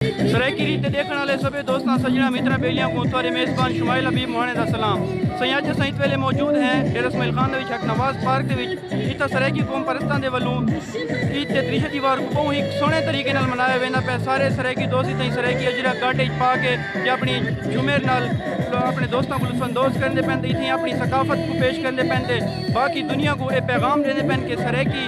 سرائیکی ریت تے ڈیکھن والے سبھے دوستاں سجنا مترا بیلیاں کو تھوڑے میزبان شمائل حبیب مہانے دا سلام سائیں اج اساں ات ویلے موجود ہیں ڈیرہ اسماعیل خان دے وچ حق نواز پارک دے وچ اتھا سرائیکی قوم پرستاں دے ولوں عید تے تریشہ دیوار کو بہوں ہی سونے طریقے نال منایا ویندا پے سارے سرائیکی دوست اتھا سرائیکی اجرا گاٹے اچ پا کے یا اپنی جھومر نال اپنے دوستاں کو لطف اندوز کرن دے پین تے اتھا اپنی ثقافت کو پیش کرن دے پین تے باقی دنیا کو اے پیغام دین دے پین کہ سرائیکی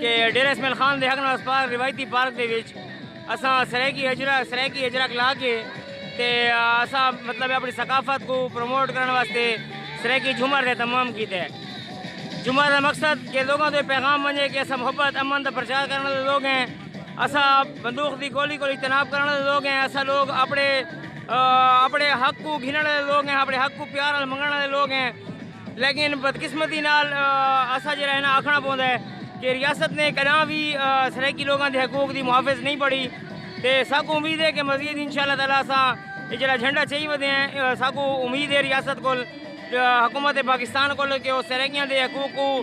کہ ڈیرہ اسماعیل خان دے حق نال اسپتال روایتی پارک دے وچ اساں سرائیکی ہجرہ سرائیکی ہجرہ کلا کے تے اساں مطلب اپنی ثقافت کوں پروموٹ کرن واسطے سرائیکی جھومر دے تمام کیتے جھومر دا مقصد کہ لوگاں دے پیغام ونجے کہ اساں محبت امن دا پرچار کرن والے لوگ ہیں اساں بندوق دی گولی کول اجتناب کرن والے لوگ ہیں اساں لوگ اپنے اپنے حق کوں گھنن والے لوگ ہیں اپنے حق کوں پیار نال منگن والے لوگ ہیں لیکن بدقسمتی نال اساں جیڑھا ہے نا آکھنا پوندا ہے کہ ریاست نے کداں وی سرائیکی لوگاں دے حقوق دی محافظ نہیں پڑھی تے ساکوں امید ہے کہ مزید انشاءاللہ تعالی اساں اے جیڑھا جھنڈا چائی ودے ہیں ساکوں امید ہے ریاست کول حکومت پاکستان کول کہ او سرائیکیاں دے حقوق کوں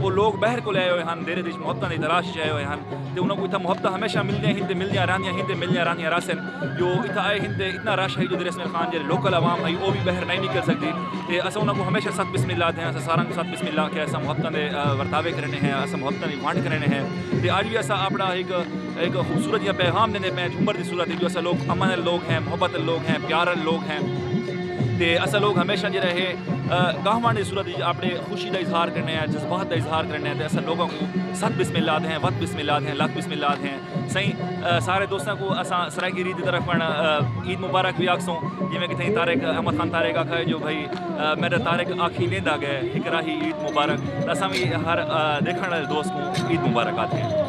او لوک بحر کولھ آئے ہوئے ہن، دیرے دے اچ محبتاں دی تلاش اچ آئے ہوئے ہن تے انہاں کوں اتھاں محبتاں ہمیشہ ملدیاں ہن تے ملدیاں رہندیاں ہن تے ملدیاں رہندیاں رہسن۔ جو اتھاں آئے ہن تے اتنا رش ہئی جو دریا اسماعیل خان جیہڑی لوکل عوام ہئی او وی بحر نئیں نکل سکدی تے اساں انہاں کوں ہمیشہ ست بسم اللہ آکھدے ہن۔ اساں ساراں کوں ست بسم اللہ آکھیا اساں محبتاں دے ورتاوے کرینے ہیں، اساں محبتاں دی ونڈ کرینے ہیں تے اج وی اساں اپنا ہک ہک خوبصورت جیہاں پیغام ݙیندے پئے ہیں جھومر دی صورت اچ جو اساں لوک امن آلے لوک ہیں، محبت آلے لوک ہیں، پیار آلے لوک ہیں تے اساں لوک ہمیشہ جیہڑا ہے گاہوݨ دی صورت اچ اپݨے خوشی خوشی دا اظہار کرنے آں جذبات دا اظہار کرنے آں تے اساں لوگاں کوں ست بسم اللہ آدھے ہیں وت بسم اللہ آدھے ہیں لت بسم اللہ آدھے ہیں سائیں سارے دوستاں کوں اساں سرائیکی ریت دی طرف پن عید مبارک وی آکھسوں جیویں کہ تھائیں طارق احمد خان طارق آکھا ہے جو بھئی میڈا طارق آکھی ویندا گئے اکراہی عید مبارک اساں وی ہر دیکھن والے دوست کوں عید مبارک آدھے ہیں